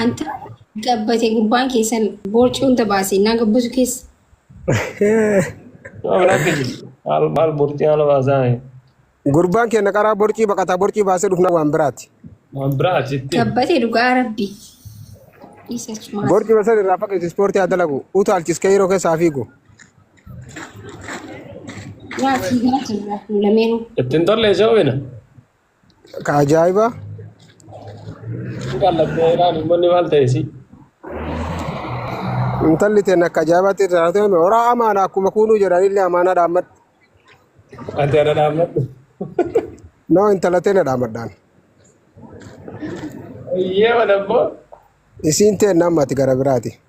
Anta gabbate gubbaan keessan boorcii hunda baase naa gabbasu keessa. Waan akka jiru. Maal maal bortii haala baasaa mee. Gurbaan keenya qaraa borcii baqataa borcii baasee dhufna waan biraati. Waan biraa achitti. Gabbate dhugaa rabbi. Isa cimaa. Borcii basan irraa fageessi ispoortii haa dalagu. Utaalchis keeyiroo keessaa fiigu. Nyaati nyaati irraa hin lameenuu. Ittiin tollee isa hubina. Ka ajaa'ibaa Kan lakkee iraan uummanni maal ta'e si? intalli teen akka ajaa'ibaatti irraa haa ta'u horaa amaana akkuma kuunuu jedhanillee amaanaa dhaammadhu. Ati ana dhaammadhu. Noo intala teen dhaammadhaan. Eeyyee mana immoo. Isiin teen namni ati gara biraati.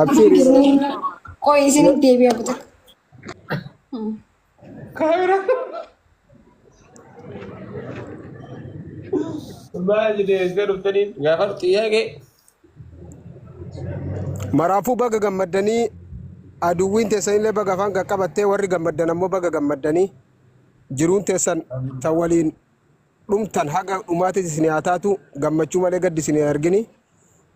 Abshiiri. Qoy isiniif deebi'a buta. Kaamera. Maal jedhee eesga dhuftaniin gaafadhu xiyyaaqee. Maraafuu baga gammaddanii aduwwiin teessan illee baga afaan qaqqabattee warri gammaddan ammoo baga gammaddanii jiruun teessan tan waliin dhumtan haga dhumaatis isin haa taatu gammachuu malee gaddi isin hin argini.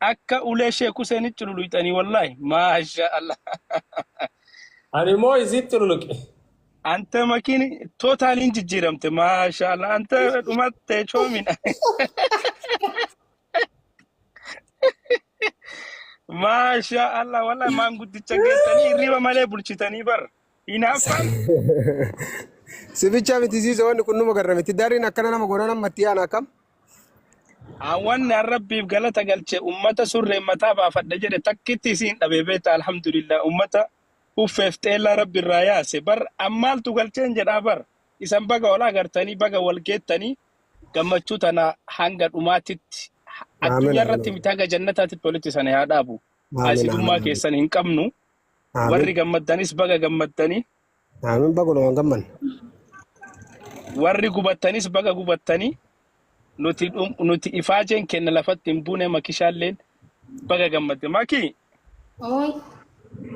Akka ulee Sheek Huseenitti cululuqxanii wallaahi. Maasha Allah. Ani immoo isiin cululuqe. Anta makiin tootaaliin jijjiiramte. Maasha Allah. Anta dhumatte coomina. Maasha Allah wallaahi maanguddicha geessanii hirriba malee bulchitanii bar. Hinaaffaan Si bicha miti ziizo wanni kun numa garra miti. Dariin akkana nama goona nama itti yaana akkam? hawwanni an rabbiif galata galche ummata surreen mataa baafadha jedhe takkitti isiin dhabe beeta alhamdulillah ummata huffeef xeellaa rabbi irraa yaase bar an maaltu galcheen jedhaa bar isan baga wal agartanii baga wal geettanii gammachuu tana hanga dhumaatitti ha- Aamin addunyaa irratti aamin miti haga jannataatitti walitti sana haa dhaabu aamin aamin haasidummaa aamin. keessan hin qabnu Aamin. Warri gammaddanis baga gammaddanii. Aamin baga numaan gammanne. Warri gubattanis baga gubattanii. Nuti dhum- nuti ifaajeen kenna lafatti hin buune makishaalleen baga gammadde. Makii Ooy.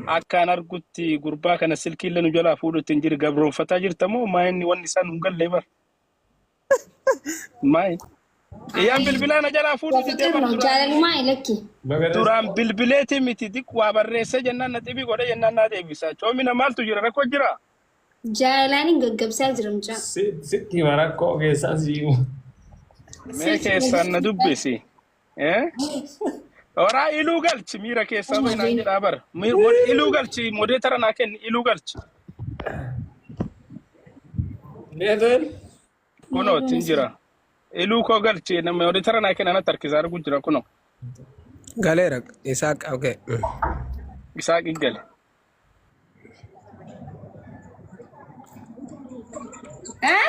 akkaan argutti gurbaa kana silkiillee nu jalaa fuudhutti hin jiru gabroonfataa jirta moo maa inni wanni isaan nu hin galle bar. Maay. Iyyaan bilbilaa na jalaa fuudhu didee Bafiqir bar no duraan illee jaalalumaa ilakki. duraan bilbileetii miti diq waa barreessee jennaan na xibii godhe jennaan naa deebisaa. Coomina maaltu jira rakkoo jira? Jaalalaan hin gaggabsaa jira mucaa. Sitti hima rakkoo keessaa siima. Mee Silkii keessaan na gaggabsaa. dubbisi. Eh? Horaa iluu galchi miira keessaa bahi naan jedhaa bara. Mi- mod- Iluu galchi modeetara naa kenni iluu galchi. Needoon Kunoo ittiin jira. Iluu koo galchi namni modeetara naa kenna natti harkisaa arguu jira kunoo. Galeera isaa qabge. Isaa qiggale. Eh?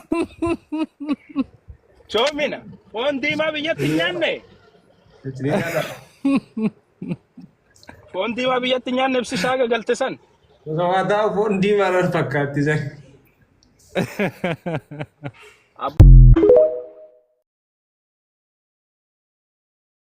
Coomina. Foon diimaa biyyatti hin nyaanne. Foon diimaa biyyatti hin nyaanne ibsi isaa gagalte san. Osomaa taa'u foon diimaa irra fakkaatti san. Ab-